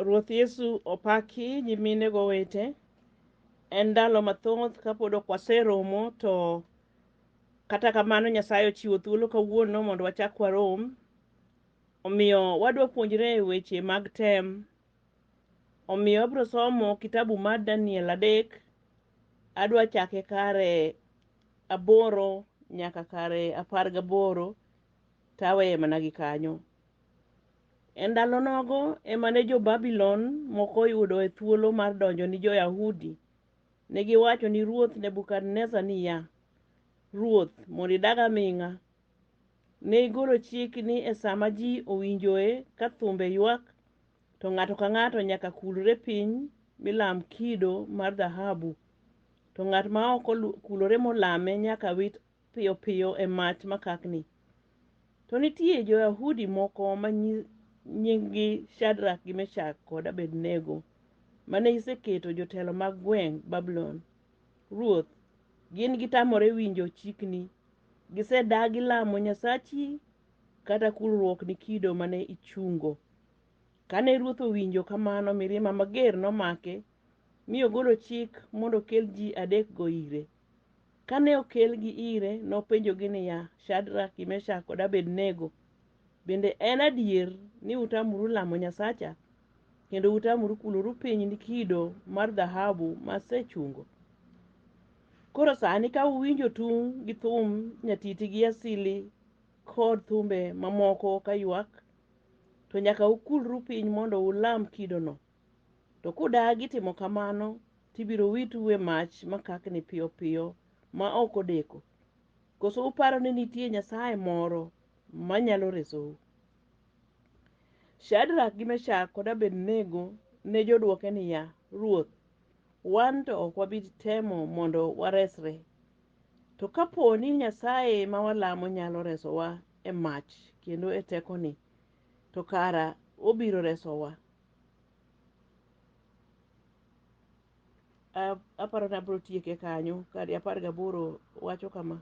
Ruoth Yesu opaki nyimine go wete. En ndalo mathoth kapod ok waseromo to kata kamano Nyasaye ochiwo thuolo kawuono mondo wachak warom. Omiyo wadwa puonjre weche mag tem. Omiyo abro somo kitabu mar Daniel adek. Adwa chake kare aboro nyaka kare apar gaboro taweye mana gi kanyo. E ndalo nogo ema ne jo-Babulon moko oyudoe thuolo mar donjo ni jo-Yahudi. Ne giwacho ni ruoth Nebukadneza niya, Ruoth, mondo idag aming'a. Ne igolo chik ni e sama ji owinjoe ka thumbe ywak, to ng'ato ka ng'ato nyaka kulre piny milam kido mar dhahabu, to ng'at ma ok kulore molame nyaka wit piyo piyo e mach makakni. To nitie jo-Yahudi moko ma nyi- nyinggi Shadrak gi Meshak kod Abednego mane iseketo jotelo mag gweng' Babulon. Ruoth, gin gitamore winjo chikni. Gisedagi lamo nyasachi kata kulruokni kido mane ichungo. Kane ruoth owinjo kamano, mirima mager nomake, mi ogolo chik mondo okel ji adekgo ire. Kane okelgi ire, nopenjogi niya, Shadrak, Meshak, kod Abednego, bende en adier ni utamoru lamo Nyasacha, kendo utamoru kuloru piny ni kido mar dhahabu ma asechungo? Koro sani ka uwinjo tung' gi thum nyatiti gi asili kod thumbe mamoko ka ywak, to nyaka ukulru piny mondo ulam kidono. To kudagi timo kamano, to ibiro witu e mach makakni piyo piyo ma ok odeko. Koso uparo ni nitie Nyasaye moro manyalo resou? Shadrak gi Meshak kod Abednego ne jodwoke niya, Ruoth, wan to ok wabi temo mondo waresre. To kapo ni Nyasaye ma walamo nyalo resowa e mach kendo e tekoni, to kara obiro resowa, A- aparo ni abiro tieke kanyo kadi apar gaboro wacho kama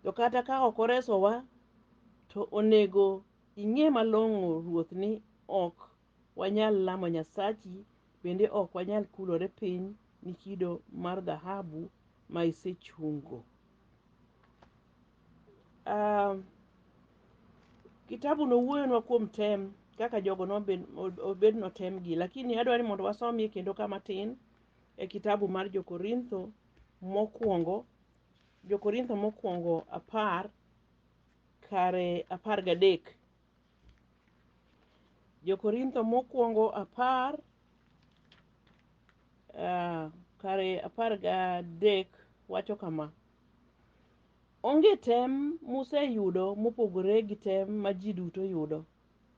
to kata ka ok oresowa to onego ing'e malong'o ruoth ni ok wanyal lamo nyasachi bende ok wanyal kulore piny ni kido mar dhahabu ma isechungo uh, kitabu no wuoyonwa kuom tem kaka jogo nobed notemgi lakini adwa ni mondo wasomie kendo kama tin e kitabu mar jokorintho mokwongo jokorintho mokwongo apar kare apar gadek Jo-Korintho mokwongo apar ah, kare apar gadek wacho kama onge tem museyudo mopogore gi tem ma ji duto yudo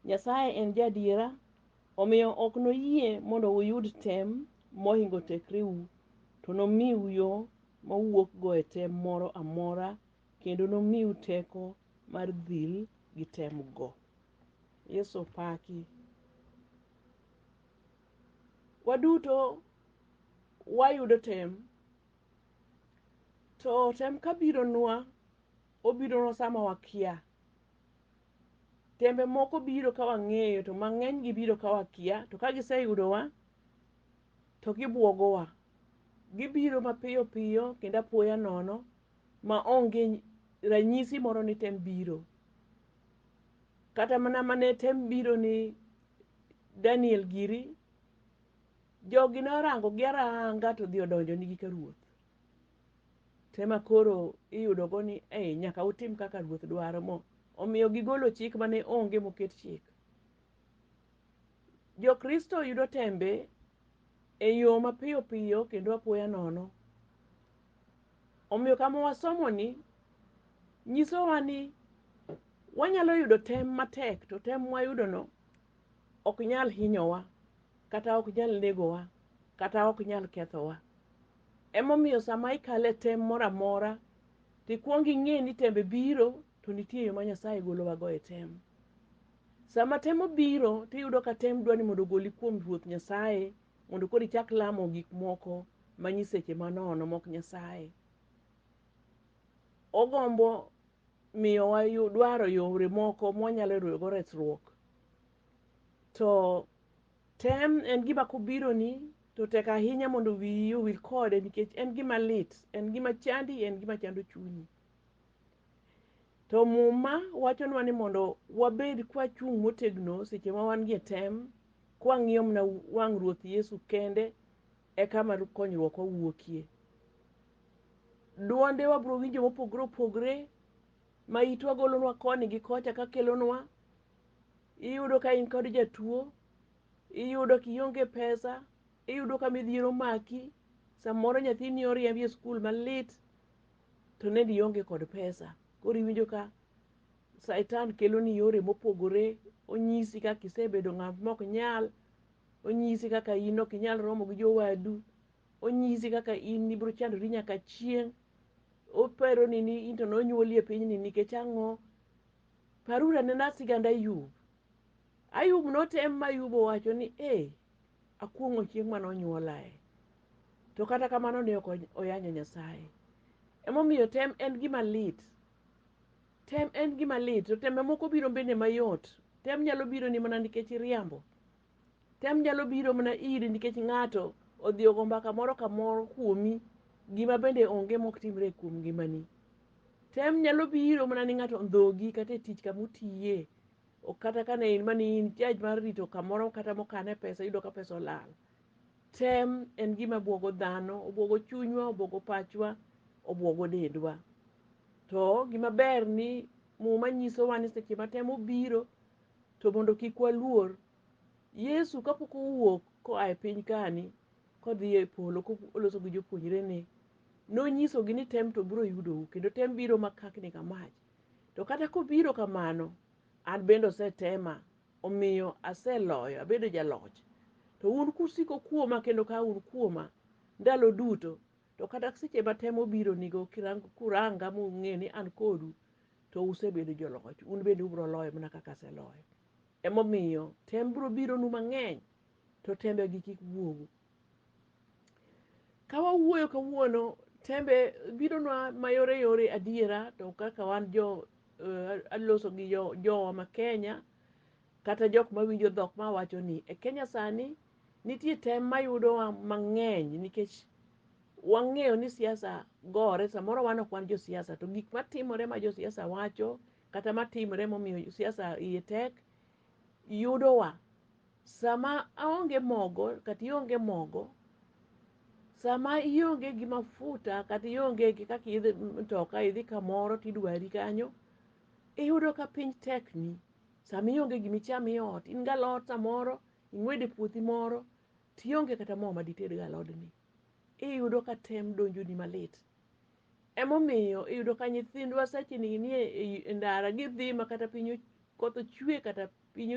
nyasaye en jaadiera omiyo ok noyie mondo uyud tem mohingo tekreu to nomiu yo mowuokgo e tem moro amora kendo nomiu teko mar dhil gi tem go. Yesu opaki. Waduto wayudo tem to tem kabironwa obironwa sama wakia. Tembe moko biro ka wang'eyo to mang'eny gibiro ka wakia to ka giseyudowa to gibwogowa. Gibiro mapiyo piyo kendo apoya nono ma onge ranyisi moro ni tem biro. Kata mana mane tem biro ni Daniel giri, jogi ne orango gi aranga to dhi odonjo nigi ka ruoth. Tema koro iyudo go ni eh, nyaka utim kaka ruoth dwaro mo. Omiyo gigolo chik mane onge moket chik. Jokristo yudo tembe e yo mapiyo piyo kendo apoya nono. Omiyo kama wasomoni nyisowa ni wanyalo yudo tem matek to tem mwayudono ok nyal hinyowa kata ok nyal negowa kata ok nyal kethowa. Emomiyo sama ikale tem moro amora to ikwong ing'e ni tembe biro to nitie yo ma Nyasaye golowago e tem. Sama tem obiro to iyudo ka tem dwa ni mondo ogoli kuom Ruoth Nyasaye mondo koro ichak lamo gik moko ma nyiseche manono mok nyasaye ogombo miyowa yu- dwaro yore moko mwanyalo yudogo resruok to tem en gima kobironi to tek ahinya mondo wiyi owil kode nikech en gima lit en gima chandi en gima chando chunyi To Muma wachonwa ni mondo wabed kwachung' motegno seche ma wan gi tem, kwang'iyo mana wang' Ruoth Yesu kende e kama konyruok wawuokie. Dwonde wabiro winjo mopogore opogore ma itwa golonwa koni gi kocha ka kelonwa. Iyudo ka in kod jatuo, iyudo ka ionge pesa, iyudo ka midhiero omaki, samoro nyathini oriembi e skul malit, to nende ionge kod pesa koro iwinjo ka saitan keloni yore mopogore onyisi kaka isebedo ng'at mok nyal onyisi kaka in ok inyal romo gi jowadu onyisi kaka in ibiro chandori nyaka chieng' operoni ni in to nonyuoli e pinyni nikech ang'o paruru anena sigand ayub ayub notem ma ayub owacho ni e Akuong'o chieng' mane onyuolae. To kata kamano ne ok oyanyo Nyasaye. Emomiyo tem en gima lit. Tem en gima lit. To tembe moko biro bende mayot. Tem nyalo biro ni mana nikech iriambo. Tem nyalo biro mana iri nikech ng'ato odhi ogo mbaka moro kamoro kuomi gima bende onge mok timre kuom ngimani. Tem nyalo biro mana ni ng'ato ondhogi kata e tich kamutiye. Ok kata ka ne in mane in judge mar rito kamoro kata mokane pesa iyudo ka pesa olal. Tem en gima bwogo dhano, obwogo chunywa, obwogo pachwa, obwogo dendwa. To gima ber ni muma nyisowa ni seche ma tem obiro to mondo kik waluor. Yesu kapok owuok koa e piny kani kodhi e polo koloso gi jopuonjrene, nonyisogi ni tem to biro yudou kendo tem biro makakni ka mach. To kata kobiro kamano, an bende osetema, omiyo aseloyo, abedo jaloch. To un kusiko kuoma kendo ka un kuoma ndalo duto, to kata seche ma temo bironigo kuranga mung'e ni an kodu, to usebedo joloch, un bende ubiro loyo mana kaka aseloyo. Emomiyo tem biro bironu mang'eny, to tembegi kik wuogu, Ka wawuoyo kawuono, tembe bidonwa mayore yore adiera, to kaka wan jo eh, aloso gi jo- jowa ma Kenya, kata jok mawinjo dhok ma wacho ni e Kenya sani nitie tem mayudowa mang'eny nikech wang'eyo ni siasa gore samoro wan ok wan josiasa to gik matimore ma josiasa wacho kata matimore momiyo siasa iye tek yudowa. Sama aonge mogo kata ionge mogo, sama ionge gi mafuta kata ionge gi kaka idhi mtoka idhi kamoro tidwari kanyo, iyudo ka piny tekni. Sama ionge gima icham e ot, in gi alot samoro ing'wedo e puothi moro tionge kata mo ma dited go alodni, iyudo ka tem donjoni malit. Emomiyo iyudo ka nyithindwa seche ni nie e ndara gidhi ma kata piny koth ochwe kata piny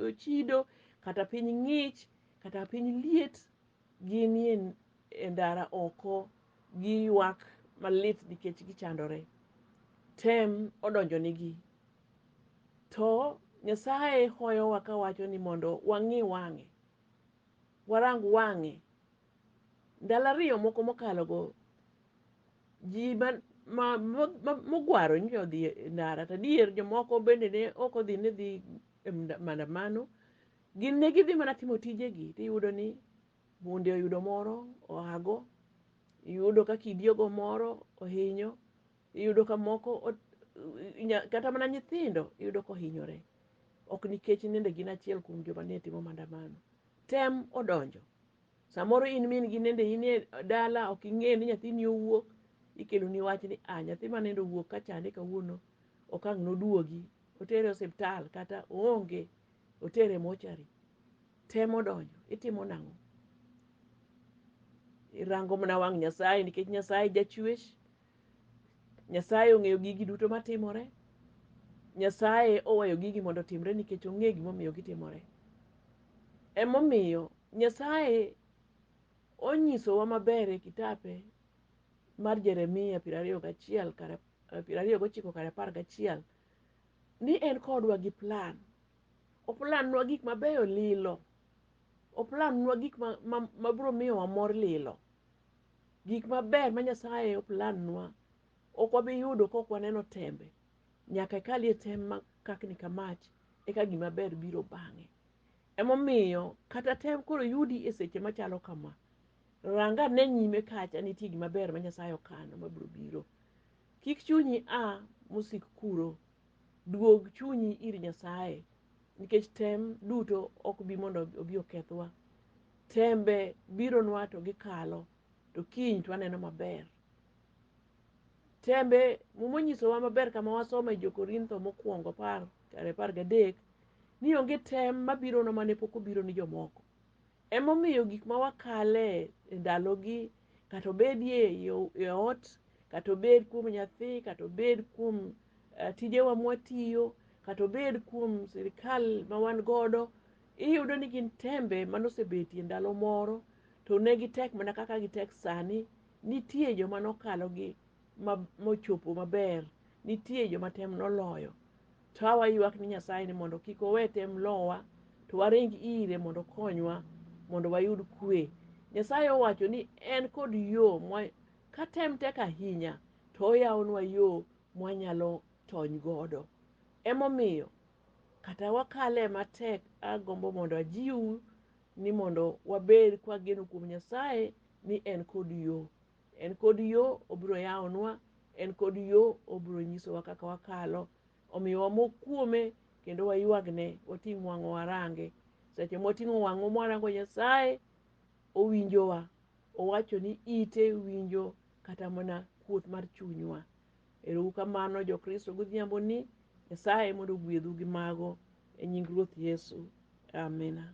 ochido kata piny ng'ich kata piny liet ginie e ndara oko giywak malit nikech gichandore. Tem odonjonigi. To Nyasaye hoyowa kawacho ni mondo wang'i wang'e, warang wang'e Ndalo ariyo moko mokalogo, ji ma, ma, ma, ma, mogwaro nyocha odhi e ndara, to adier jomoko bende ne ok odhi ni dhi e mda- maandamano. Gin ne gidhi mana timo tijegi, to iyudo ni bunde oyudo moro oago, iyudo ka kidi ogo moro ohinyo, iyudo ka moko ot- inya- kata mana nyithindo iyudo ka ohinyore. Ok nikech nende gin achiel kuom joma ne timo maandamano. Tem odonjo. Samoro in min gi nende in e dala ok ing'e ni nyathini owuok, ikelo ni wach ni a nyathi ma nende owuok ka chande kawuono ok ang' noduogi. Otere osiptal kata oonge, otere mochari. Temo donjo, itimo nang'o? Irango mana wang' Nyasaye nikech Nyasaye jachwech. Nyasaye ong'eyo gigi duto matimore. Nyasaye oweyo gigi mondo otimre nikech ong'e gimomiyo gitimore. Emomiyo Nyasaye onyisowa maber e kitape mar Jeremia piero ariyo gachiel kar piero ariyo gochiko kar apar gachiel ni en kodwa gi plan. Oplanwa gik mabeyo lilo. Oplanwa gik ma, ma, ma biro miyo wamor lilo. Gik maber ma Nyasaye oplanwa ok wabi yudo ka ok waneno tembe. Nyaka ikalie tem ma kakni ka mach, eka gima ber biro bang'e. Emomiyo kata tem koro yudi e seche machalo kama. Ranga ne nyime kacha nitie gima ber ma Nyasaye okano mabiro biro. Kik chunyi a mosik kuro. Duog chunyi ir Nyasaye nikech tem duto ok bi mondo obi okethwa. Tembe bironwa to gikalo to kiny to waneno maber. Tembe, Muma onyisowa maber kama wasomo e Jo-Korintho mokwongo apar kar apar gadek ni onge tem mabirona mane pok obiro ni jomoko. Emomiyo gik ma wakale e ndalogi, kata obed e yo- e ot, kata obed kuom nyathi, kata obed kuom eh, tijewa mwatiyo, kata obed kuom sirikal ma wan godo, iyudo ni gin tembe manosebetie ndalo moro to ne gitek mana kaka gitek sani Nitie joma nokalo gi mochopo maber, nitie joma tem noloyo. To a waywak ni Nyasaye ni mondo kik owe tem lowa, to waring ire mondo okonywa mondo wayud kwe. Nyasaye owacho ni en kod yo mwa ka tem tek ahinya to oyawonwa yo mwanyalo tony godo. Emomiyo kata wakale matek agombo mondo ajiwu ni mondo wabed kwageno kuom Nyasaye ni en kod yo en kod yo obiro yawonwa en kod yo obiro nyisowa kaka wakalo omiyo wamok kuome kendo waywagne wating' wang'o warange seche mwating'o wang'o mwarango nyasaye owinjowa owacho ni ite winjo kata mana kuot mar chunywa erou kamano jokristo godhiambo ni nyasaye mondo ogwedhu gi mago e nying ruoth yesu amina